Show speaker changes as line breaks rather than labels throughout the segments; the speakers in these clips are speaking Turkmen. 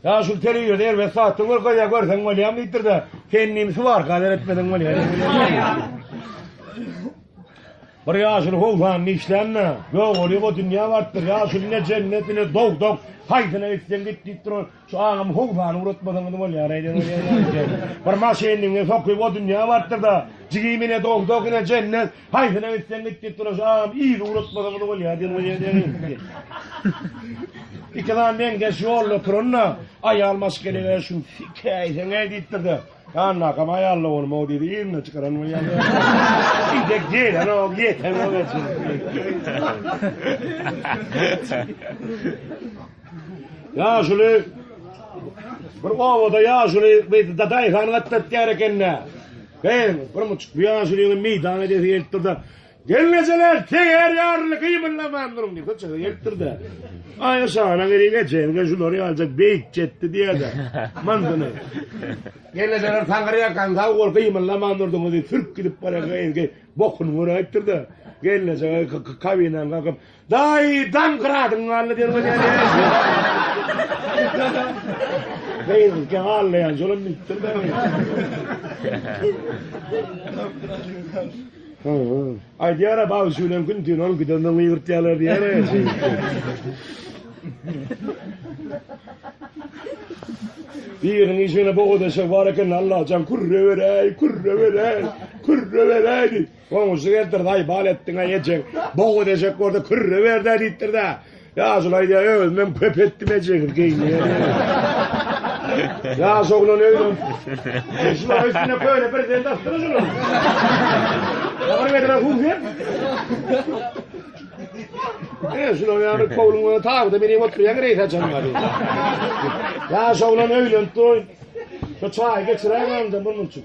Ýaşuly telewizorda erbet satdyň bir gyz-a görseň bolýam diýipdir-de, kendim suwarka seretmeseň bolýar. Bir ýaşuly howsanda işlände, ýogaly bu dünýä barypdyr. Ýaşuly ne jennet, ne dowzah, haýsyna gitseň git diýip duran. Şu agamy howsany ugratmasaňyz bolýar-aý diýen bolýar ýa-da. Bir maşynyny sokyp o dünýä barypdyr-da, jigimi ne dowzah, ne jennet, Haýsyna gitseň git git duraş agam yzy ulatmasaňyz bolýa diýen we ýene gitdi. Ikizan meňzeş ýolda oturanda aýal maşgelege şun sikäýseňe diýipdir-de. Annakam aýal doganym o diýdi yzyna çykaran we ýene. Idek gelen o ýeten o geçen. Ýaşuly bir obada ýaşuly bir dadaýy han gatdaýar ekende. Bäh, birmujik bu ýaşuly ýigide meýdan edesi gelipdir-de, Gelnejeler, teger ýaryly gybyrlaman duruň! diýip, çykyp gelipdir-de. Aý, şana gerek ejeňize şulary aljak beýik ýetdi diýer-de, myndyny. Gelnejeler taňry ýakan sag bol, gymyldaman durduňyz diýip, sürk gidip barýarka, Ezgi bokuny göräýipdir-de, gelneje kabinadan kalkyp, Daýydan gradyň galdy derwezäni. Beýleki gallaýan şolam bitdir ben. Aýdýar-a baw şulan gün tün ol gidenden ýygyrtýarlar diýär-a. Biriniň işine boga deşek bar eken, Allajan kürre beräý, kürre beräý, kürre beräý diýip. Goňşy geldirdaý bal etdiňä ejeň boga dejek bolsa kürre berdä diýipdirda. Ýaşul aýdýa özümem köp etdim ejegi geýinýär. Ýaş oglan öýlen. Şular üstüne köýne bir zende asdyra şular. Ýagyr bedre huzur. E şular ýagyr kowluňa tagda meni oturýan reýs açan bar. Ýaş oglan öýlenip dur. Şu çaý geçiräýmem de bunun üçin.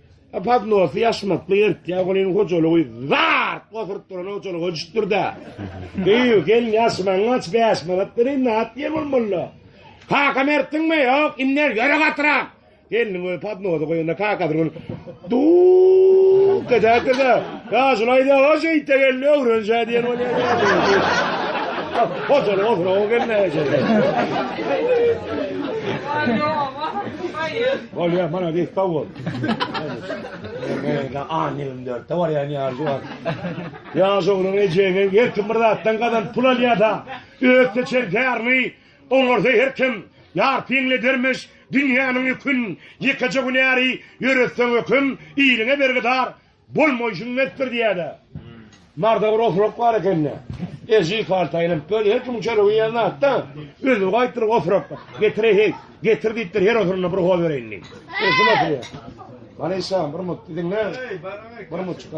Padnosy ýaşmakly ýertýä, onuň hojalygy zat gosuryp duran hojalygy düşdürdi. Beýu, gel ýaşmaň aç bäş manat beriň, nat diýen bolmaly. Kaka mertdiňmi? Ýok, indi ýöre gatyrak. Gelniň özi padnosy goýanda kaka bir gün du getäkdi de, ýa şulaýda hoş eýtde geldi öwrenşä diýen bolýar. Hojalygy oturan o geldi. Bolýa malades sag bol. Mende an 24 de bar yani ýaşy bar. Ýaş oglan ejeňe her kim bir zatdan gazan pul alýada. Öz seçen tärini oňarsa her kim ýar piňle dermiş dünýäniň ýükün ýekeje gün ýary ýöretseň öküm iliňe bergidar. Bolmaýşyň netdir diýýärä. Marda bir oturak bar ekende. Eji karta aýlanyp dön, her kimiň çöregi iýen zat-da. Özüni gaýtdyryp oturak getire heý, getir diýipdir, her oturanda bir hoz bereýin diýip. Eşin oturýar. Maryşa, bir mut diýdiň-le. Bir mut çykar.